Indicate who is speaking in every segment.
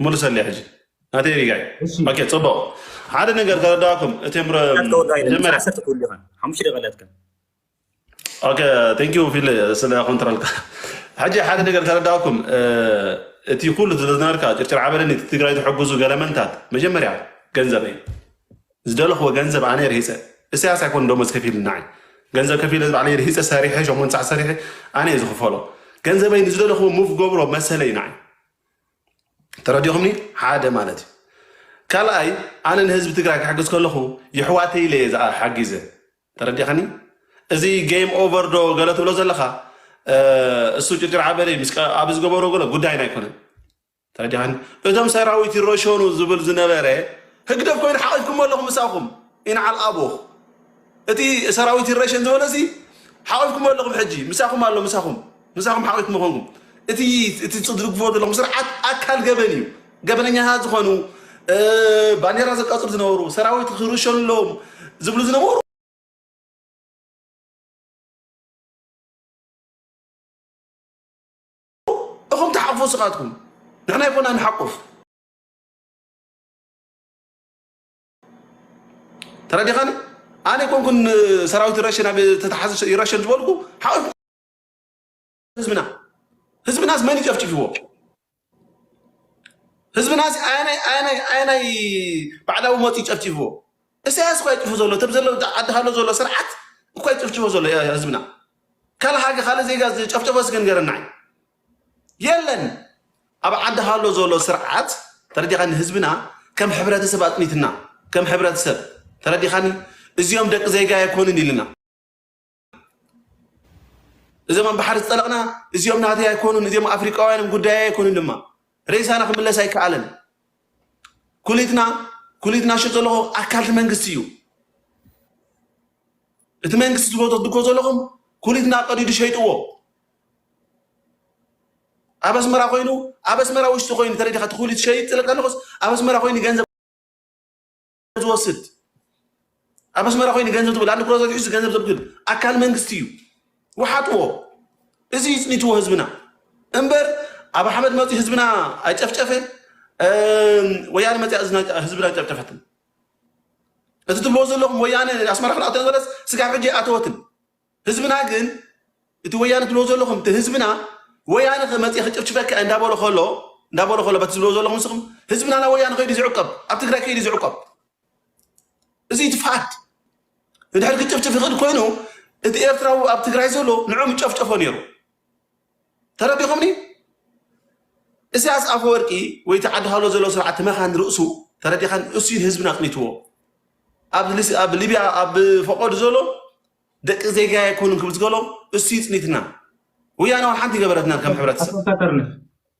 Speaker 1: ክመልሰለይ ሕጂ ናተይ ሪጋይ እሺ ኦኬ ጽቡቅ ሓደ ነገር ከረዳኩም እቲ ምረ ናት ከወዳይ ለምሳ መጀመርያ ዓሰርተ
Speaker 2: ትብሉ ኢኻ ሓሙሽተ ደቂቃ ኣለትካ
Speaker 1: ኦኬ ቴንክ ዩ ፊል ስለ ኮንትሮልካ ሕጂ ሓደ ነገር ከረዳኩም እ፣ እቲ ኩሉ ዝነበርካ ጭርጭር ዓበደኒ እቲ ትግራይ ዝሕግዙ ገለመንታት መጀመርያ ገንዘብ እዩ ዝደለኽዎ ገንዘብ ኣነ ርሂፀ እሰያስ ኣይኮን ደሞዝ ከፊል ናዓይ ገንዘብ ከፊለ ባዕለይ ርሂፀ ሰሪሐ ሸሞንተ ሰዓት ሰሪሐ ኣነ እየ ዝኽፈሎ ገንዘበይ ንዝደለኽዎ ሙቭ ገብሮ መሰለይ ናዓይ ተረዲኹምኒ ሓደ ማለት እዩ ካልኣይ ኣነ ንህዝቢ ትግራይ ክሕግዝ ከለኹ ይሕዋተይ ኢለ እየ ዝኣ- ሓጊዘ ተረዲኻኒ እዚ ጌም ኦቨር ዶ ገለ ትብሎ ዘለኻ እ፣ እሱ ጭርጭር ዓበለይ ምስ ቀ- ኣብ ዝገበሮ ገለ ጉዳይና ኣይኮነን ተረዲኻኒ እቶም ሰራዊት ይረሸኑ ዝብል ዝነበረ ህግደፍ ኮይኑ ሓቒፍኩሞ ኣለኹም ምሳኹም ኢንዓል ኣቦኽ እቲ ሰራዊት ይረሸን ዝበሎ ሲ ሓቂፍኩሞ ኣለኹም ሕጂ ምሳኹም ኣሎ ምሳኹም ምሳኹም ሓቂፍኩሞ ኮንኩም እቲ እቲ ዝድግፍዎ ዘለኹም ስርዓት ኣካል ገበን እዩ ገበነኛታት ዝኾኑ እ፣ ባንዴራ ዘቃጽሉ ዝነበሩ ሰራዊት ክርሸኑ ኣለዎም ዝብሉ ዝነበሩ እኹም ተሓቁፉ ስኻትኩም ንሕና ይኮና ንሓቁፍ ተረዲኻኒ ኣነ ኮንኩን ሰራዊት ይረሽን ኣብ ተተሓዘ ይረሽን ዝበልኩ ሓቂኹ ህዝብና ህዝብናስ መን ይጨፍጭፍዎ ህዝብናስ ኣየናይ ኣየናይ ኣየናይ ባዕዳዊ ሞት ይጨፍጭፍዎ እሳያስ እኳ ይጭፉ ዘሎ ተብ ዘሎ ዓዲ ሃሎ ዘሎ ስርዓት እኳ ይጭፍጭፎ ዘሎ ህዝብና ካልእ ሃገ ካልእ ዜጋ ዝጨፍጨፎ ስገንገረና የለን ኣብ ዓዲ ሃሎ ዘሎ ስርዓት ተረዲኻኒ ህዝብና ከም ሕብረተሰብ ኣጥኒትና ከም ሕብረተሰብ ተረዲኻኒ እዚኦም ደቂ ዜጋ ኣይኮኑን ኢልና እዞም ኣብ ባሕሪ ዝጠለቕና እዚኦም ናተይ ኣይኮኑን እዚኦም ኣፍሪቃውያንን ጉዳይ ኣይኮኑን ድማ ሬሳና ክምለስ ኣይከኣለን ኩሊትና ኩሊትና ሽጥ ዘለኹ ኣካልቲ መንግስቲ እዩ እቲ መንግስቲ ዝፈቶ ዝድጎ ዘለኹም ኩሊትና ቀዲዱ ሸይጥዎ ኣብ ኣስመራ ኮይኑ ኣብ ኣስመራ ውሽጢ ኮይኑ ተረዲኻ እቲ ኩሉ ትሸይጥ ስለ ከለኹስ ኣብ ኣስመራ ኮይኑ ገንዘብ ዝወስድ ኣብ ኣስመራ ኮይኑ ገንዘብ ዝብል ኣንድ ክሮዘት ሒዙ ገንዘብ ዘብግል ኣካል መንግስቲ እዩ ውሓጥዎ እዚ ይፅኒትዎ ህዝብና እምበር ኣብ ኣሕመድ መፂ ህዝብና ኣይጨፍጨፈ ወያነ መፂያ ህዝብና ጨፍጨፈትን እቲ ትብልዎ ዘለኹም ወያነ ኣስመራ ክንኣቶ ዝበለስ ስጋብ ሕጂ ኣይኣተወትን ህዝብና ግን እቲ ወያነ ትብልዎ ዘለኹም እቲ ህዝብና ወያነ ከ መጽየ ክጭፍጭፈካ እየ እንዳበሎ ከሎ እንዳበሎ ከሎ በቲ ዝብልዎ ዘለኹም ንስኹም ህዝብና ናብ ወያነ ከይዱ ዝዕቀብ ኣብ ትግራይ ከይዱ ዝዕቀብ እዚ እዩ እቲ ፋክት ንድሕር ክጭፍጭፍ ይኽእል ኮይኑ እቲ ኤርትራዊ ኣብ ትግራይ ዘሎ ንዑ ምጨፍጨፎ ነይሩ ተረዲኹምኒ? እስያስ ኣፈወርቂ ወይ እቲ ዓዲ ሃሎ ዘሎ ስርዓት መኻን ርእሱ ተረዲኻን እሱዩ ህዝብና ኣጽኒትዎ ኣብ ሊብያ ኣብ ፈቆድ ዘሎ ደቂ ዜጋ ኣይኮኑን ክብል ዝገሎም እሱዩ ጽኒትና ወያነ ውን ሓንቲ ገበረትና ከም ሕብረተሰብ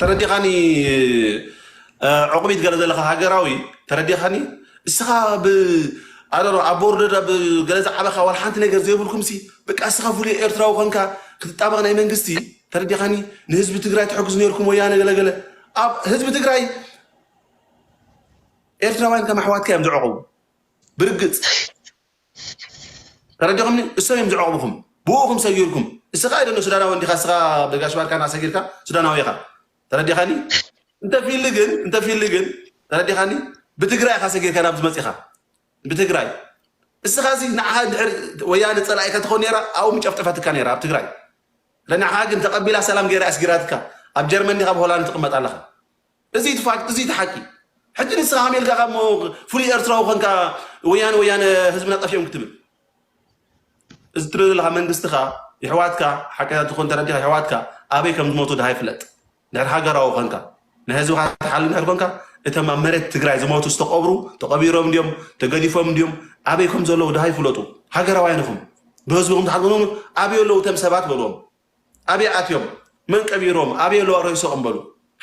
Speaker 1: ተረዲኻኒ ዑቕቢት ገለ ዘለኻ ሃገራዊ ተረዲኻኒ እስኻ ብ ኣረሮ ኣብ ቦርደር ብ ገለ ዝዓበኻ ዋላ ሓንቲ ነገር ዘይብልኩምሲ በቃ እስኻ ፍሉይ ኤርትራዊ ኮንካ ክትጣበቕ ናይ መንግስቲ ተረዲኻኒ ንህዝቢ ትግራይ ትሕግዙ ነርኩም ወያነ ገለገለ ኣብ ህዝቢ ትግራይ ኤርትራውያን ከም ኣሕዋትካ እዮም ዝዕቕቡ ብርግጽ ተረዲኹምኒ እሶም እዮም ዝዕቕቡኹም ብኡኹም ሰጊርኩም እስኻ ኣይደሎ ሱዳናዊ እንዲኻ እስኻ ብጋሽ ባርካ እና ሰጊርካ ሱዳናዊ ኢኻ ተረዲኻኒ እንተፊሊ ግን እንተፊሊ ግን ተረዲኻኒ ብትግራይ ኢኻ ሰጊርካ ናብ ዝመፂኻ ብትግራይ እስኻ እዚ ንዓኻ ድሕር ወያነ ፀላኢካ ትኾን ነራ ኣብኡ ምጨፍጨፈትካ ነራ ኣብ ትግራይ ለናኻ ግን ተቐቢላ ሰላም ገይራ ኣስጊራትካ ኣብ ጀርመን ዲኻ ኣብ ሆላንድ ትቕመጥ ኣለኻ እዚ እቲ ፋክት እዚ እቲ ሓቂ። ሕጂ ንስኻ ከመይ ኢልካ እሞ ፍሉይ ኤርትራዊ ኮንካ ወያነ ወያነ ህዝብና ጠፊኦም ክትብል። እዚ ትብል ዘለኻ መንግስትኻ የሕዋትካ ሓቀኛ ተኾን ተረዲኻ የሕዋትካ ኣበይ ከም ዝሞቱ ድሃይ ፍለጥ። ድሕሪ ሃገራዊ ኮንካ ናይ ህዝብኻ ትሓሊ ድሕሪ ኮንካ እቶም ኣብ መሬት ትግራይ ዝሞቱ ዝተቐብሩ ተቐቢሮም ድዮም ተገዲፎም ድዮም ኣበይ ከም ዘለዉ ድሃይ ፍለጡ። ሃገራውያን ኢኹም ብህዝብኹም ትሓልቁ ኣበይ ኣለዉ እቶም ሰባት በልዎም። ኣበይ ኣትዮም መን ቀቢሮም ኣበይ ኣለዋ ረይሶኦም በሉ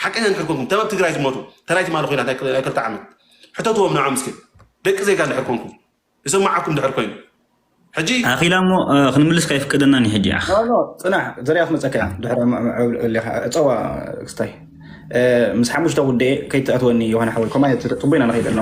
Speaker 1: ሓቀኛ እንድሕር ኮንኩም ተበብ ትግራይ ዝሞቱ ተራይ ትማሊ ኮይናት ናይ ክልተ ዓመት ሕተትዎም ንዖም እስኪ ደቂ ዜጋ እንድሕር ኮንኩም ይሰማዓኩም እንድሕር ኮይኑ ሕጂ ኣኺላ እሞ
Speaker 2: ክንምልስ ከይፍቅደናን ሕጂ ኣኽ ፅናሕ ዘርያ
Speaker 3: ክመፀካ እያ ድሕሪ ዕብሌኻ ፀዋ ክስታይ ምስ ሓሙሽተ ጉዳይ ከይትኣትወኒ ዮሃና ሓወይ ኮማ ፅቡቅ ኢና ንኸይድ ኣለና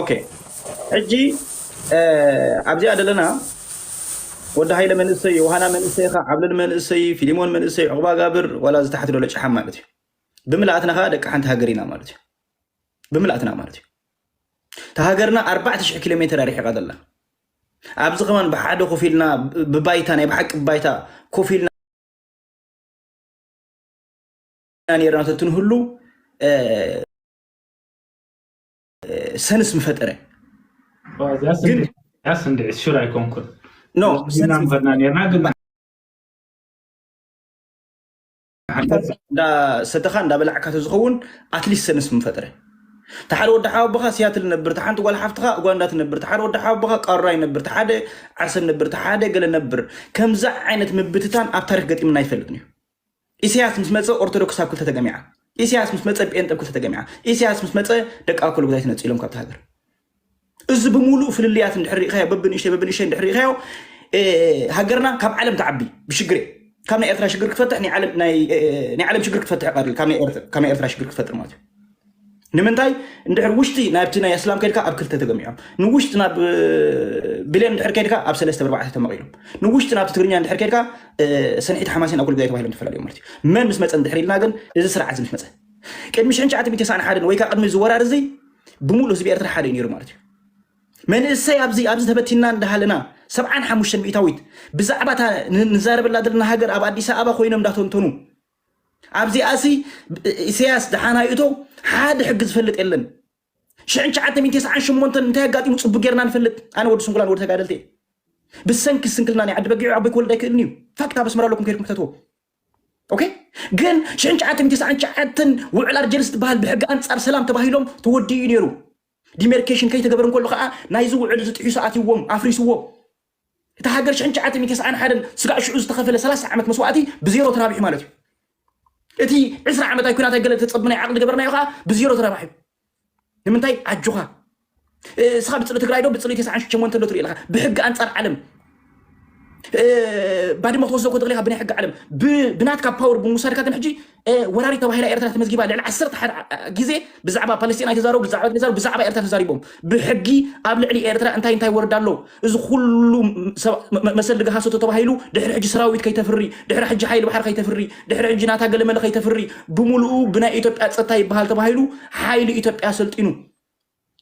Speaker 2: ኦኬ
Speaker 3: ሕጂ ኣብዚኣ ዘለና ወዲ ሃይለ መንእሰይ፣ ዮሃና መንእሰይ፣ ኻ ዓብለል መንእሰይ፣ ፊሊሞን መንእሰይ፣ ዑቕባ ጋብር ዋላ እዚ ታሕቲ ዘሎ ጭሓም ማለት እዩ። ብምልኣትና ከዓ ደቂ ሓንቲ ሃገር ኢና ማለት እዩ። ብምልኣትና ማለት እዩ። እታ ሃገርና 4000 ኪሎ ሜትር ኣርሒቓ ዘላ ኣብዚ ከማን ብሓደ ኮፍ ኢልና ብባይታ ናይ ብሓቂ ባይታ ኮፍ ኢልና ነርና ተትንህሉ ሰንስ ምፈጠረ ግን
Speaker 2: ያስ እንደ ሹር ኣይኮንኩን ኖ ዝና
Speaker 3: ሰንስ
Speaker 2: ምኸድና
Speaker 3: ነርና ግን እንዳሰተኻ እንዳበላዕካ ተዝኸውን ኣትሊስት ሰንስ ምፈጥረ እቲ ሓደ ወዲ ሓወቦኻ ሲያትል ነብር እቲ ሓንቲ ጓል ሓፍትኻ ኡጋንዳ ትነብር እቲ ሓደ ወዲ ሓወቦኻ ቃሩራ ይነብር እቲ ሓደ ዓርሰ ነብር እቲ ሓደ ገለ ነብር ከምዚ ዓይነት ምብትታን ኣብ ታሪክ ገጢምና ኣይፈልጥን እዩ ኢሰያስ ምስ መጸ ኦርቶዶክስ ኣብ ክልተ ተገሚዓ። ኢሰያስ ምስ መጸ ጴንጠ ኣብ ክልተ ተገሚዓ። ኢሰያስ ምስ መጸ ደቂ ኣኮሎጉዛይ ተነጺሎም ካብታ ሃገር። እዚ ብምሉእ ፍልልያት እንድሕር ርኢኻዮ በብንእሽተይ በብንእሽተይ እንድሕር ርኢኻዮ ሃገርና ካብ ዓለም ትዓቢ ብሽግር እየ። ካብ ናይ ኤርትራ ሽግር ክትፈትሕ ናይ ዓለም ናይ ዓለም ሽግር ክትፈትሕ ቀሪ ካብ ናይ ኤርትራ ሽግር ክትፈጥር ማለት እዩ። ንምንታይ እንድሕር ውሽጢ ናብቲ ናይ ኣስላም ከድካ ኣብ ክልተ ተገሚዖም ንውሽጢ ናብ ብሌን እንድሕር ከድካ ኣብ ሰለስተ ብርባዕተ ተመቂሎም ንውሽጢ ናብቲ ትግርኛ እንድሕር ከድካ ሰንሒት ሓማሴን ኣኩል ግዳይ ተባሂሎም ተፈላለዩ ማለት እዩ መን ምስ መፀ እንድሕር ኢልና ግን እዚ ስርዓት እዚ ምስ መፀ ቅድሚ 1991 ወይ ከዓ ቅድሚ እዚ ወራር እዚ ብምሉእ ህዝቢ ኤርትራ ሓደ እዩ ነይሩ ማለት እዩ መንእሰይ ኣብዚ ኣብዚ ተበቲና እንዳሃለና ሰብዓን ሓሙሽተን ሚእታዊት ብዛዕባ እታ ንዛረበላ ዘለና ሃገር ኣብ ኣዲስ ኣበባ ኮይኖም እንዳተንተኑ ኣብዚኣ ሲ ኢሰያስ ድሓን ኣይእቶ ሓደ ሕጊ ዝፈልጥ የለን ሽሕን ትሽዓተ ሚእትን ተስዓን ሸሞንተን እንታይ ኣጋጢሙ ጽቡቅ ጌርና ንፈልጥ ኣነ ወዲ ስንኩላን ወዲ ተጋደልቲ እየ ብሰንኪ ስንክልና ናይ ዓዲ በጊዑ ዓቦይ ክወልድ ኣይክእልን እዩ ፋክት ኣብ ኣስመራ ኣለኩም ከድኩም ክተትዎ ኦኬ ግን ሽሕን ትሽዓተ ሚእትን ተስዓን ትሽዓተን ውዕል ኣርጀንስ ዝበሃል ብሕጊ ኣንጻር ሰላም ተባሂሎም ተወዲኡ እዩ ነይሩ ዲሜርኬሽን ከይተገበረ እንከሎ ከዓ ናይዚ ውዕል እዚ ጥሒሱ ኣትይዎም ኣፍሪስዎ እታ ሃገር ሽሕን ትሽዓተ ሚእቲ ተስዓን ሓደን ስጋዕ ሽዑ ዝተኸፈለ ሰላሳ ዓመት መስዋእቲ ብዜሮ ተራቢሑ ማለት እዩ። እቲ ዕስራ ዓመት ኣይ ኩናት ኣይ ገለ ተጸብ ናይ ዓቕሊ ገበርናዮ ከኣ ብዜሮ ተራባሒቡ። ንምንታይ ኣጆኻ እስኻ ብጽሊ ትግራይ ዶ ብጽሊ ተስዓን ሽቸሞንተ ዶ ትርኢ ኣለኻ ብሕጊ ኣንጻር ዓለም ባድመ ክትወስዶ ክትኽእል ኢኻ ብናይ ሕጊ ዓለም ብናትካ ፓወር ብምውሳድካ ግን ሕጂ ወራሪት ተባሂላ ኤርትራ ተመዝጊባ ልዕሊ ዓሰርተ ሓደ ግዜ ብዛዕባ ፓለስቲን ኣይተዛረቡ ብዛዕባ ተዛረቡ ብዛዕባ ኤርትራ ተዛሪቦም ብሕጊ ኣብ ልዕሊ ኤርትራ እንታይ እንታይ ወረዳ ኣሎ እዚ ኩሉ መሰል ድጋ ሃሰቶ ተባሂሉ ድሕሪ ሕጂ ሰራዊት ከይተፍሪ ድሕሪ ሕጂ ሓይሊ ባሕሪ ከይተፍሪ ድሕሪ ሕጂ ናታ ገለመለ ከይተፍሪ ብምሉኡ ብናይ ኢትዮጵያ ጸጥታ ይበሃል ተባሂሉ ሓይሊ ኢትዮጵያ ሰልጢኑ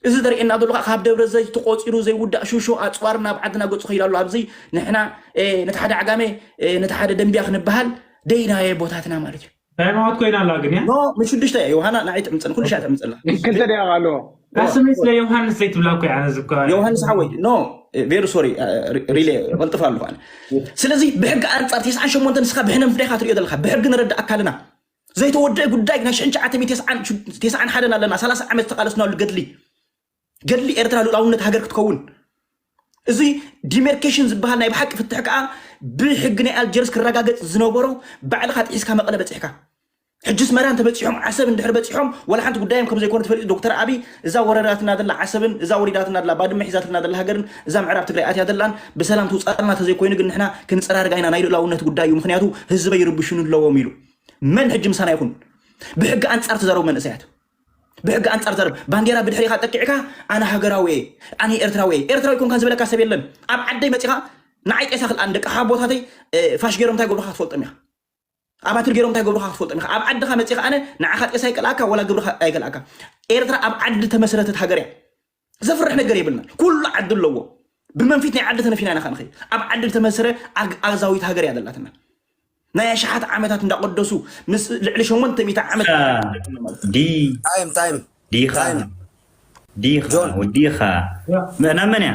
Speaker 3: እዚ ዘርእየና ዘሎ ከኣ ካብ ደብረ ዘይት ተቆጺሩ ዘይውዳእ ሹሾ ኣጽዋር ናብ ዓድና ገጹ ከይዱ ኣሎ። ኣብዚ ንሕና ነቲ ሓደ ዓጋመ ነቲ ሓደ ደምብያ ክንበሃል ደይናዮ ቦታትና ማለት እዩ። ታይ ማወት ኮይና ኣላ
Speaker 2: ግን እያ። ኖ ን ሽዱሽተ እያ
Speaker 3: ዮውሃና ንዓይ ትዕምጽን ኩሉ ሻዕ ትዕምጽላ። ን ክልተ ደቂቅ ኣለዎ።
Speaker 4: እታ ስመይ ስለ
Speaker 2: ዮውሃንስ ዘይትብላ እኮ እያ ኣነ ዝብከ። ዮውሃንስ ሓወይ ኖ
Speaker 3: ቬሪ ሶሪ ሪሌ ቐልጥፍ ኣለኹ ኣነ። ስለዚ ብሕጊ ኣንጻር ተስዓን ሸሞንተ ንስኻ ብሕነ ምፍዳይ ኢኻ ትርእዮ ዘለኻ ብሕጊ ንረዳእ ኣካልና ዘይተወድኤ ጉዳይ ናይ ሽሕን ትሽዓተ ሚእቲ ተስዓን ሹ- ተስዓን ሓደን ኣለና ሰላሳ ዓመት ዝተቃለስናሉ ገድሊ ገድሊ ኤርትራ ልኡላውነት ሃገር ክትከውን እዚ ዲሜርኬሽን ዝበሃል ናይ ብሓቂ ፍትሕ ከዓ ብሕጊ ናይ ኣልጀርስ ክረጋገፅ ዝነበሮ ባዕልኻ ጥሒስካ መቐለ በፂሕካ ሕጅስ መራ እንተበፂሖም ዓሰብ እንድሕር በፂሖም ወላ ሓንቲ ጉዳዮም ከም ዘይኮነ ተፈሊጡ ዶክተር ኣቢ እዛ ወረዳትና ዘላ ዓሰብን እዛ ወሪዳትና ዘላ ባድመ ሒዛትልና ዘላ ሃገርን እዛ ምዕራብ ትግራይ ኣትያ ዘላን ብሰላም ትውፃእልና ተዘይኮይኑ ግን ንሕና ክንፀራርጋ ኢና ናይ ልእላውነት ጉዳይ እዩ ምክንያቱ ህዝበይ ይርብሹኒ ኣለዎም ኢሉ መን ሕጂ ምሳና ይኹን? ብሕጊ ኣንጻር ትዛረቡ መንእሰያት ብሕጊ ኣንጻር ትዛረቡ ባንዴራ ብድሕሪኻ ጠቂዕካ ኣነ ሃገራዊ እየ ኣነ ኤርትራዊ እየ ኤርትራዊ ኮንካ ዝበለካ ሰብ የለን። ኣብ ዓደይ መጺኻ ንዓይ ጤሳ ክልኣን ደቂ ሓቦታተይ እ፣ ፋሽ ገይሮም እንታይ ገብሩካ ክትፈልጦም ኢኻ። ኣብ ኣትሪ ገይሮም እንታይ ገብሩካ ክትፈልጦም ኢኻ። ኣብ ዓድኻ መጺኻ ኣነ ንዓኻ ጤሳ ይቀልኣካ ወላ ግብርኻ ኣይከልኣካ። ኤርትራ ኣብ ዓዲ ተመስረተት ሃገር እያ። ዘፍርሕ ነገር የብልና ኩሉ ዓዲ ኣለዎ ብመንፊት ናይ ዓዲ ተነፊና ኢና ከንኸ ኣብ ዓዲ ዝተመስረ ኣግኣዛዊት ሃገር እያ ዘላትና ናይ ኣሽሓት ዓመታት እንዳቀደሱ ምስ ልዕሊ ሸሞንተ ሚእቲ ዓመት ዲ
Speaker 5: ታይም ታይም ዲኻ ታይም ዲኻ ጆን ወዲኻ ናብ መን
Speaker 2: እያ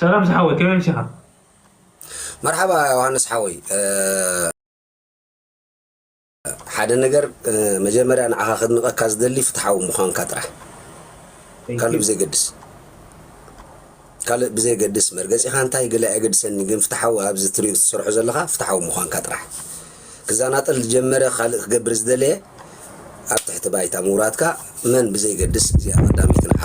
Speaker 2: ሰላም ዝሓወይ ከመይ ኣምሲኻ።
Speaker 5: መርሓባ ዮሃንስ ሓወይ ሓደ ነገር መጀመርያ ንዓኻ ክድንቐካ ዝደሊ ፍትሓዊ ምዃንካ ጥራሕ ካልእ ብዘይገድስ ካልእ ብዘይገድስ መርገፂኻ እንታይ ገለ ኣይገድሰኒ ግን ፍትሓዊ ኣብዚ ትሪኦ ዝሰርሖ ዘለካ ፍትሓዊ ምዃንካ ጥራሕ ክዛናጠል ዝጀመረ ካልእ ክገብር ዝደለየ ኣብ ትሕቲ ባይታ ምውራድካ መን ብዘይገድስ እዚኣ ቀዳሚት ንዓኻ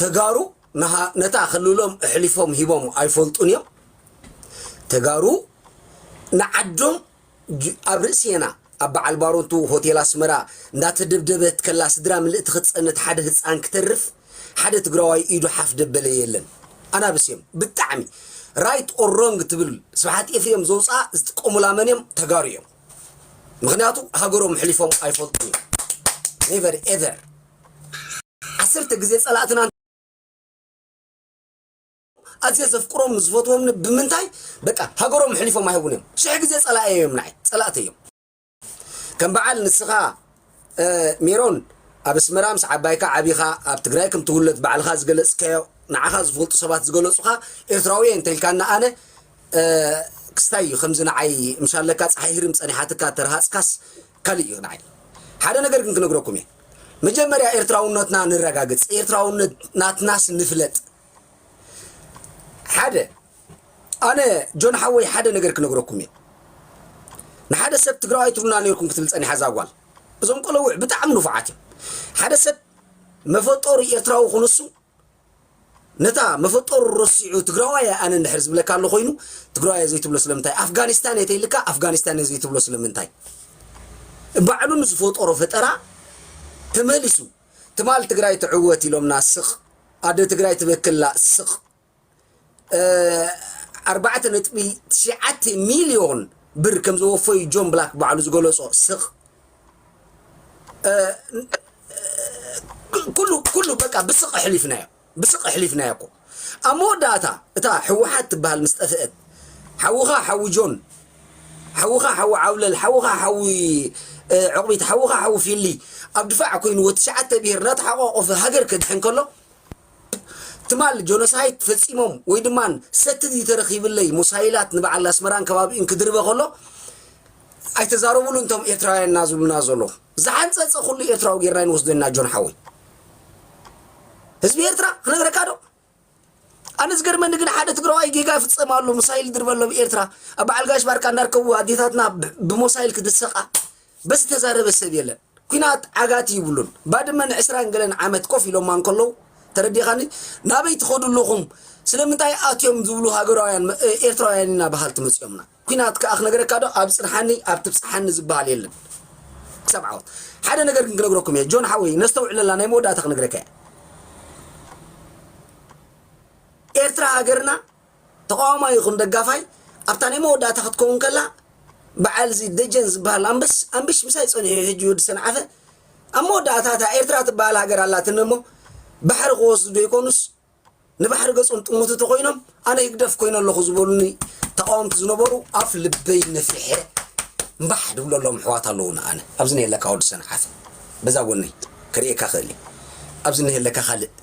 Speaker 5: ተጋሩ ነታ ክልሎም እሕሊፎም ሂቦም ኣይፈልጡን እዮም ተጋሩ ንዓዶም ኣብ ርእስና ኣብ በዓል ባሮቱ ሆቴል ኣስመራ እንዳተደብደበት ከላ ስድራ ምልእቲ ክትፀንት ሓደ ህፃን ክተርፍ ሓደ ትግራዋይ ኢዱ ሓፍ ደበለ የለን ኣናብስ እዮም ብጣዕሚ ራይት ኦር ሮንግ ትብል ስብሓት ኤፍሬም ዘውፅኣ ዝጥቀሙላ መን እዮም ተጋሩ እዮም ምክንያቱ ሃገሮም ሕሊፎም ኣይፈልጡን እዮም ኔቨር ኤቨር ዓሰርተ ግዜ ጸላእትና እንተ ኣዝየ ዘፍቅሮም ዝፈትዎምኒ ብምንታይ በቃ ሃገሮም ኣሕሊፎም ኣይህቡን እዮም ሽሕ ግዜ ጸላእየ እዮም ንዓይ ጸላእተ እዮም ከም በዓል ንስኻ ሜሮን ኣብ ኣስመራ ምስ ዓባይካ ዓቢኻ ኣብ ትግራይ ከም ትውለድ ባዕልኻ ዝገለጽካዮ ንዓኻ ዝፈልጡ ሰባት ዝገለጹኻ ኤርትራዊ እየ እንተልካና ኣነ ክስታይ እዩ ከምዚ ንዓይ ምሻለካ ፀሓይ ህርም ፀኒሓትካ ተረሃፅካስ ካልእ እዩ ንዓይ ሓደ ነገር ግን ክነግረኩም እየ መጀመርያ ኤርትራውነትና ንረጋግጽ ኤርትራውነት ናትናስ ንፍለጥ ሓደ ኣነ ጆን ሓወይ ሓደ ነገር ክነግረኩም እየ ንሓደ ሰብ ትግራዋይ ትብሉና ነርኩም ክትብል ጸኒሓ እዛ ጓል እዞም ቆለውዕ ብጣዕሚ ንፉዓት እዮም ሓደ ሰብ መፈጠሩ ኤርትራዊ ኩንሱ ነታ መፈጠሩ ረሲዑ ትግራዋይ እየ ኣነ እንድሕር ዝብለካ ኣሎ ኮይኑ ትግራዋይ እየ ዘይትብሎ ስለምንታይ ኣፍጋኒስታን እየ ተይልካ ኣፍጋኒስታን እየ ዘይትብሎ ስለምንታይ ባዕሉ ንዝፈጠሮ ፈጠራ ተመሊሱ ትማል ትግራይ ትዕወት ኢሎምና ስቅ ኣደ ትግራይ ትበክላ ስቅ ኣርባዕተ ነጥቢ ትሽዓተ ሚልዮን ብር ከም ዘወፈዩ ጆን ብላክ ባዕሉ ዝገለጾ ስቕ ኩሉ ኩሉ በቃ ብስቅ ኣሕሊፍናዮ ብስቅ ኣሕሊፍናዮ እኮ ኣብ መወዳእታ እታ ሕወሓት ትበሃል ምስ ጠፍአት ሓውኻ ሓዊ ጆን ሓውኻ ሓዊ ዓውለል ሓውኻ ሓዊ ዕቑቢት ሓውኻ ሓዊ ፊሊ ኣብ ድፋዕ ኮይንዎ ትሽዓተ ብሄር እናተሓቋቆፈ ሃገር ከድሕን ከሎ ትማል ጆኖሳይት ፈጺሞም ወይ ድማ ሰትዲ ተረኺብለይ ሙሳይላት ንበዓል ኣስመራን ከባቢኡን ክድርበ ከሎ ኣይተዛረቡሉ እንቶም ኤርትራውያን እና ዝብሉና ዘሎ ዝሓንጸጸ ኩሉ ኤርትራዊ ጌርና ይንወስዶ ኢና ጆን ሓወይ ህዝቢ ኤርትራ ክነግረካ ዶ ኣነ ዝገርመኒ ግን ሓደ ትግራዋይ ጌጋ ይፍጸማሉ ሙሳይል ድርበሎ ብኤርትራ ኣብ በዓል ጋሽ ባርካ እንዳርከቡ ኣዴታትና ብሞሳይል ክድሰቃ በዚ ተዛረበ ሰብ የለን ኩናት ዓጋቲ ይብሉን ባድመ ን ዕስራን ገለን ዓመት ኮፍ ኢሎማ እንከለዉ ተረዲካኒ ናበይ ትከዱ ኣለኩም ስለምንታይ ኣትዮም ዝብሉ ሃገራውያን ኤርትራውያን ኢና በሃልቲ መጽዮምና ኩናት ከኣ ክነግረካ ዶ ኣብ ጽንሓኒ ኣብ ትብጽሓኒ ዝብሃል የለን ክሳብ ዓወት ሓደ ነገር ግን ክነግረኩም እየ ጆን ሓወይ ነስተውዕለላ ናይ መወዳእታ ክነግረካ እየ ኤርትራ ሃገርና ተቓዋማይ ይኹን ደጋፋይ ኣብታ ናይ መወዳእታ ክትከውን ከላ በዓልዚ ደጀን ዝበሃል ኣምበስ ኣምቢስ ምሳይ ጸኒሑ እዩ ሕጂ ወዲ ሰንዓፈ ኣብ መወዳእታ እታ ኤርትራ ትበሃል ሃገር ኣላትኒ እሞ ባሕሪ ክወስዱ ደይኮኑስ ንባሕሪ ገጾም ጥሙቲ ተኾይኖም ኣነ ህግደፍ ኮይነ ኣለኹ ዝበሉኒ ተቓወምቲ ዝነበሩ ኣፍ ልበይ ነፊሐ እምባሕ ድብለሎም ኣሕዋት ኣለዉና ኣነ ኣብዚ ነየለካ ወዲ ሰንዓፈ በዛ ጎነይ ክርእየካ ክእል ኣብዚ ነየለካ ካልእ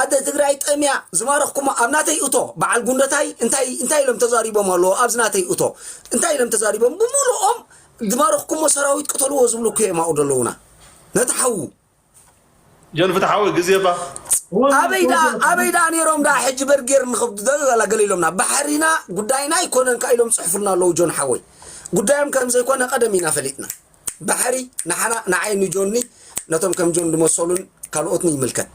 Speaker 5: ኣደ ትግራይ ጠምያ ዝማረኽኩማ ኣብ ናተይ እቶ በዓል ጉንደታይ እንታይ እንታይ ኢሎም ተዛሪቦም ኣለዎ ኣብዚ ናተይ እቶ እንታይ ኢሎም ተዛሪቦም ብምሉኦም ዝማረኽኩሞ ሰራዊት ቅተልዎ ዝብሉ እኮ እዮም ኣብኡ ዘለዉና ነቲ ሓዉ
Speaker 1: ጆን ፍትሓዊ ግዜ ባኽ ኣበይ ደኣ
Speaker 5: ኣበይ ደኣ ነይሮም ደኣ ሕጂ በርጌር ንኽብዱ ደላ ገለ ኢሎምና ባሕሪና ጉዳይና ኣይኮነን ከ ኢሎም ጽሕፉልና ኣለዉ ጆን ሓወይ ጉዳዮም ከም ዘይኮነ ቀደም ኢና ፈሊጥና ባሕሪ ንዓና፣ ንዓይ፣ ንጆኒ፣ ነቶም ከም ጆን ዝመሰሉን ካልኦትን ይምልከት።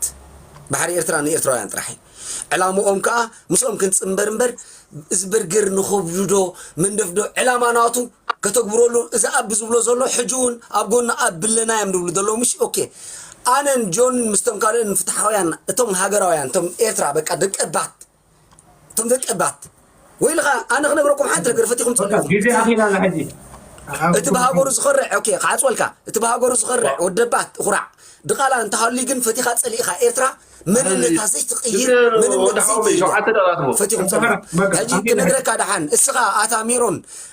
Speaker 5: ባሕሪ ኤርትራ ንኤርትራውያን ጥራሕ እዩ። ዕላምኦም ከኣ ምስኦም ክንጽንበር እምበር እዚ በርገር ንኸብድዶ መንደፍዶ ዕላማ ናቱ ከተግብረሉ እዚ ኣቢ ዝብሎ ዘሎ ሕጂ እውን ኣብ ጎኑ ኣብ ብለና እዮም ዝብሉ ዘለዉ ምሽ ኦኬ ኣነን ጆንን ምስቶም ካልኦን ፍትሓውያን እቶም ሃገራውያን እቶም ኤርትራ በቃ ደቀባት እቶም ደቀባት ወይልኻ ኣነ ክነግረኩም ሓንቲ ነገር ፈቲኹም ትፈልጡ ግዜ ኣኺላ
Speaker 2: ላ ሕጂ እቲ ብሃገሩ
Speaker 5: ዝኸርዕ ኦኬ ክዓጽወልካ እቲ ብሃገሩ ዝኸርዕ ወደባት እኹራዕ ድቓላ እንተሃልዩ ግን ፈቲኻ ጸሊእኻ ኤርትራ መንነታ ዘይትቕይር መንነት ዘይትይዳ ፈቲኹም ጸሊእኩም ሕጂ ክነግረካ ደሓን እስኻ ኣታ ሜሮን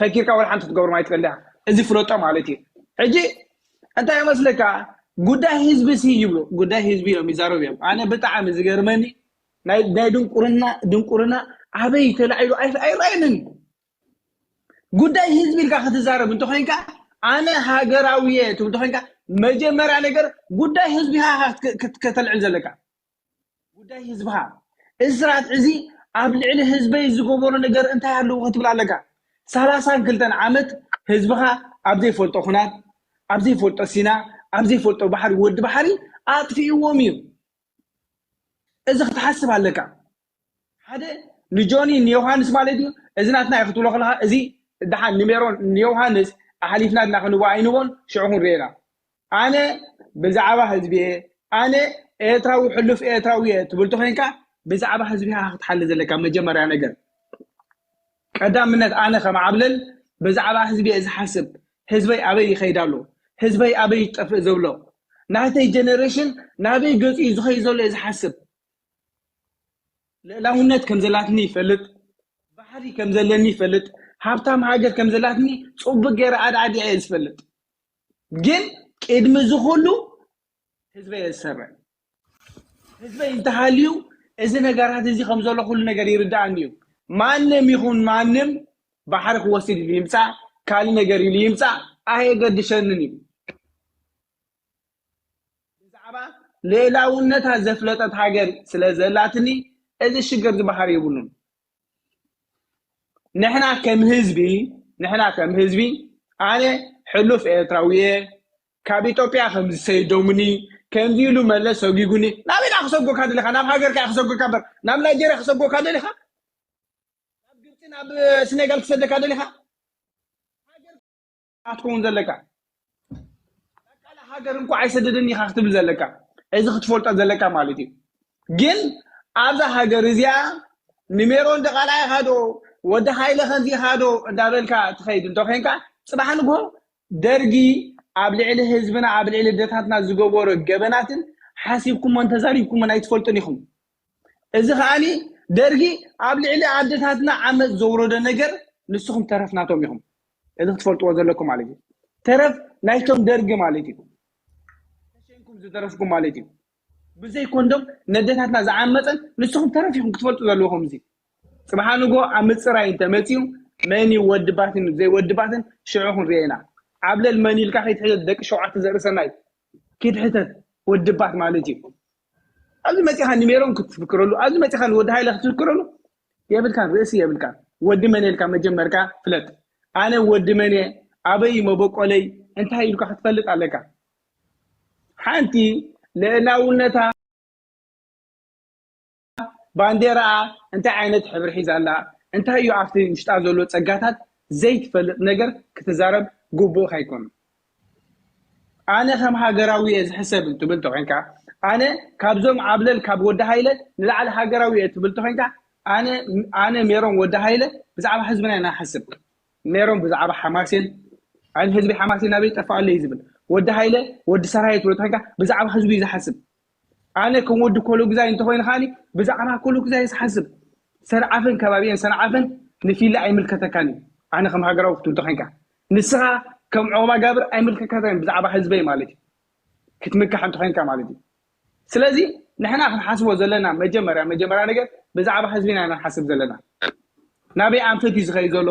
Speaker 4: ፈኪርካ ወላ ሓንቲ ክትገብሮም ኣይትክእልን ዲካ እዚ ፍለጦ ማለት እዩ ሕጂ እንታይ መስለካ ጉዳይ ህዝቢ ሲ ይብሉ ጉዳይ ህዝቢ እዮም ይዛረቡ እዮም ኣነ ብጣዕሚ ዝገርመኒ ናይ ናይ ድንቁርና ድንቁርና ኣበይ ተላዒሉ ኣይራየንን ጉዳይ ህዝቢ ኢልካ ክትዛረብ እንተኮይንካ ኣነ ሃገራዊ እየ ትብል እንተኮይንካ መጀመርያ ነገር ጉዳይ ህዝቢ ሃ ከተልዕል ዘለካ ጉዳይ ህዝብኻ እዚ ስርዓት ሕዚ ኣብ ልዕሊ ህዝበይ ዝገበሮ ነገር እንታይ ኣለዎ ክትብል ኣለካ ሰላሳን ክልተን ዓመት ህዝብኻ ኣብ ዘይፈልጦ ኩናት ኣብ ዘይፈልጦ ሲና ኣብ ዘይፈልጦ ባሕሪ ወዲ ባሕሪ ኣጥፊእዎም እዩ እዚ ክትሓስብ ኣለካ ሓደ ንጆኒ ንዮሃንስ ማለት እዩ እዚ ናትና እዩ ክትብሎ ከለካ እዚ ደሓን ንሜሮን ንዮሃንስ ኣሕሊፍና ድና ክንቦ ኣይንቦን ሽዑ ክንሪኤና ኣነ ብዛዕባ ህዝቢ እየ ኣነ ኤርትራዊ ሕሉፍ ኤርትራዊ እየ ትብል ተኮይንካ ብዛዕባ ህዝቢ ኢካ ክትሓሊ ዘለካ መጀመርያ ነገር ቀዳምነት ኣነ ከም ዓብለል ብዛዕባ ህዝቢ እየ ዝሓስብ ህዝበይ ኣበይ ይኸይድ ኣሎ ህዝበይ ኣበይ ይጠፍእ ዘብሎ ናተይ ጀነሬሽን ናበይ ገፂኡ ዝኸይድ ዘሎ እየ ዝሓስብ ልእላውነት ከም ዘላትኒ ይፈልጥ ባሕሪ ከም ዘለኒ ይፈልጥ ሃብታም ሃገር ከም ዘላትኒ ፅቡቅ ገይረ ኣድዓዲ እየ ዝፈልጥ ግን ቅድሚ እዚ ኩሉ ህዝበ እየ ዝሰርዕ ህዝበይ እንተሃልዩ እዚ ነገራት እዚ ከም ዘሎ ኩሉ ነገር ይርዳእኒ እዩ ማንም ይኹን ማንም ባሕሪ ክወስድ ኢሉ ይምፃእ ካልእ ነገር ኢሉ ይምፃእ ኣየገድሸንን እዩ ብዛዕባ ልእላውነታ ዘፍለጠት ሃገር ስለ ዘላትኒ እዚ ሽግር ዝበሃል የብሉን። ንሕና ከም ህዝቢ ንሕና ከም ህዝቢ ኣነ ሕሉፍ ኤርትራዊ እየ ካብ ኢትዮጵያ ከምዚ ሰይዶሙኒ ከምዚ ኢሉ መለስ ሰጒጉኒ ናበይ ድኣ ክሰጎካ ደሊኻ ናብ ሃገርካ እየ ክሰጎካ እምበር ናብ ናይጀርያ ክሰጎካ ደሊኻ ናብ ግብፂ ናብ ስኔጋል ክሰደካ ደሊኻ ኢኻ ትኸውን ዘለካ ቃል ሃገር እንኳ ኣይሰደደኒ ኢኻ ክትብል ዘለካ እዚ ክትፈልጦ ዘለካ ማለት እዩ ግን ኣብዛ ሃገር እዚኣ ንሜሮን ደቓላ ኢኻ ዶ ወዲ ሃይለ ከምዚ ኢኻ ዶ እንዳበልካ ትኸይድ እንተ ኮንካ ፅባሕ ንግሆ ደርጊ ኣብ ልዕሊ ህዝብና ኣብ ልዕሊ ደታትና ዝገበሮ ገበናትን ሓሲብኩሞን ተዛሪብኩሞን ኣይትፈልጡን ኢኹም እዚ ከኣ ደርጊ ኣብ ልዕሊ ኣደታትና ዓመጽ ዘውረዶ ነገር ንስኹም ተረፍ ናቶም ኢኹም እዚ ክትፈልጥዎ ዘለኩም ማለት እዩ ተረፍ ናይቶም ደርጊ ማለት እዩ ተሸንኩም ዝተረፍኩም ማለት እዩ ብዘይ ኮንዶም ነደታትና ዝዓመጸን ንስኹም ተረፍ ኢኹም ክትፈልጡ ዘለኹም እዚ ጽባሓ ንጎ ኣብ ምጽራይ እንተመጺኡ መን እዩ ወድባትን ዘይወድባትን ሽዑ ክንሪኦ ኢና ዓብለል መን ኢልካ ከይትሕተት ደቂ ሸውዓተ ዘርእሰናይ ከይትሕተት ወድባት ማለት እዩ ኣብዚ መፂኻ ንሜሮን ክትፍክረሉ ኣብዚ መፂኻ ንወዲ ሃይለ ክትፍክረሉ የብልካን ርእሲ የብልካን ወዲ መን ኢልካ መጀመርካ ፍለጥ ኣነ ወዲ መን እየ ኣበይ መበቆለይ እንታይ ኢልካ ክትፈልጥ ኣለካ ሓንቲ ልዕላውነታ ባንዴራኣ እንታይ ዓይነት ሕብሪ ሒዛ ኣላ እንታይ እዩ ኣብቲ ውሽጣ ዘሎ ፀጋታት ዘይትፈልጥ ነገር ክትዛረብ ግቡእካ ኣይኮኑ ኣነ ከም ሃገራዊ እየ ዝሕሰብ እንትብል ተኮንካ ኣነ ካብዞም ኣብለል ካብ ወዲ ሃይለ ንላዕሊ ሃገራዊ እየ ትብል ተኮንካ ኣነ ኣነ ሜሮን ወዲ ሃይለ ብዛዕባ ህዝብና ኢና ንሓስብ ሜሮን ብዛዕባ ሓማሴን ኣን ህዝቢ ሓማሴን ኣበይ ጠፋ ኣሎ እዩ ዝብል ወዲ ሃይለ ወዲ ሰራየ ትብል ተኮንካ ብዛዕባ ህዝቢ እዩ ዝሓስብ ኣነ ከም ወዲ ኮሎግዛይ እንተኾይነ ከኣ ብዛዕባ ኮሎግዛይ ዝሓስብ ሰርዓፍን ከባቢኤን ሰንዓፈን ንፊለ ኣይምልከተካን እዩ ኣነ ከም ሃገራዊ ክቱ እንተኾይንካ ንስኻ ከም ዑቕባ ጋብር ኣይምልከከተን ብዛዕባ ህዝበይ ማለት እዩ ክትምካሕ እንተኾይንካ ማለት እዩ ስለዚ ንሕና ክንሓስቦ ዘለና መጀመርያ መጀመርያ ነገር ብዛዕባ ህዝቢና ኢና ንሓስብ ዘለና ናበይ ኣንፈት እዩ ዝኸይድ ዘሎ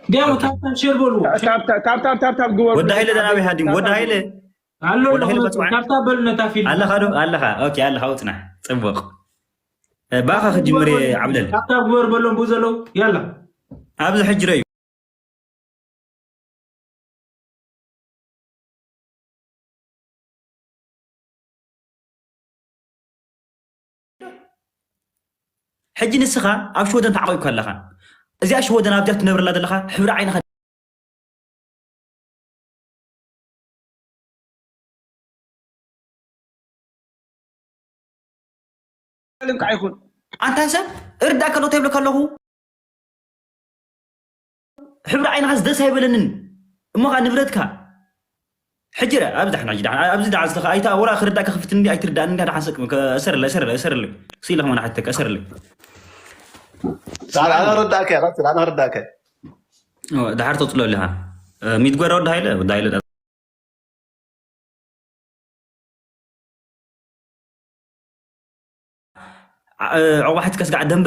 Speaker 6: ዲያሞ ታብታብ ሼር በልዎ ታብታብ
Speaker 4: ግበሩ ወዲ ሃይለ ደናበይ ሃዲሙ
Speaker 2: ወዲ ሃይለ ኣሎ ወዲ ሃይለ ኣለኹ መፅዋዕ
Speaker 6: ታብታብ በሉ ነታ ፊልም ኣለኻ ዶ ኣለኻ
Speaker 2: ኦኬ ኣለኻ ውፅናሕ ፅቡቕ እ፣ ባኻ ክጅምር እየ ዓብለል ታብታብ ግበሩ በሎም ብኡ
Speaker 6: ዘለዉ ያላ ኣብዚ ሕጂ
Speaker 2: ረዩ ሕጂ ንስኻ ኣብ ሽወደን ተዓቂብካ ኣለኻ እዚኣ ሽወደን ኣብዚኣ ትነብረላ ዘለኻ ሕብሪ ዓይንኻ ልምካ ይኹን
Speaker 4: ኣንታ ሰብ
Speaker 2: እርዳእ ከሎ ተይብለካ ኣለኹ ሕብሪ ዓይንኻስ ደስ ኣይበለንን እሞ ኸኣ ንብረትካ ሕጂ ረ ኣብዚ ዳሕና ሕጂ ዳሕና ኣብዚ ዳሓን ስለኻ ኣይታ ወላ ክርዳእካ ክፍት እንዲ ኣይትርዳእን እንዲ ዳሓን ሰቅ እሰርለይ እሰርለይ እሰርለይ ስኢለ ከማን ሓተካ እሰርለይ ጻዕዳ
Speaker 1: ኣነ ረዳእካ እየ ቀጽል ኣነ ረዳእካ እየ
Speaker 2: ኦ፣ ዳሓር ተጽሎ ኣለኻ ሚትጎራ ወዲ ሃይለ ወዲ ሃይለ ዳ- ዓ- ዑቕባ ሓትካስ ጋዕ ደንበ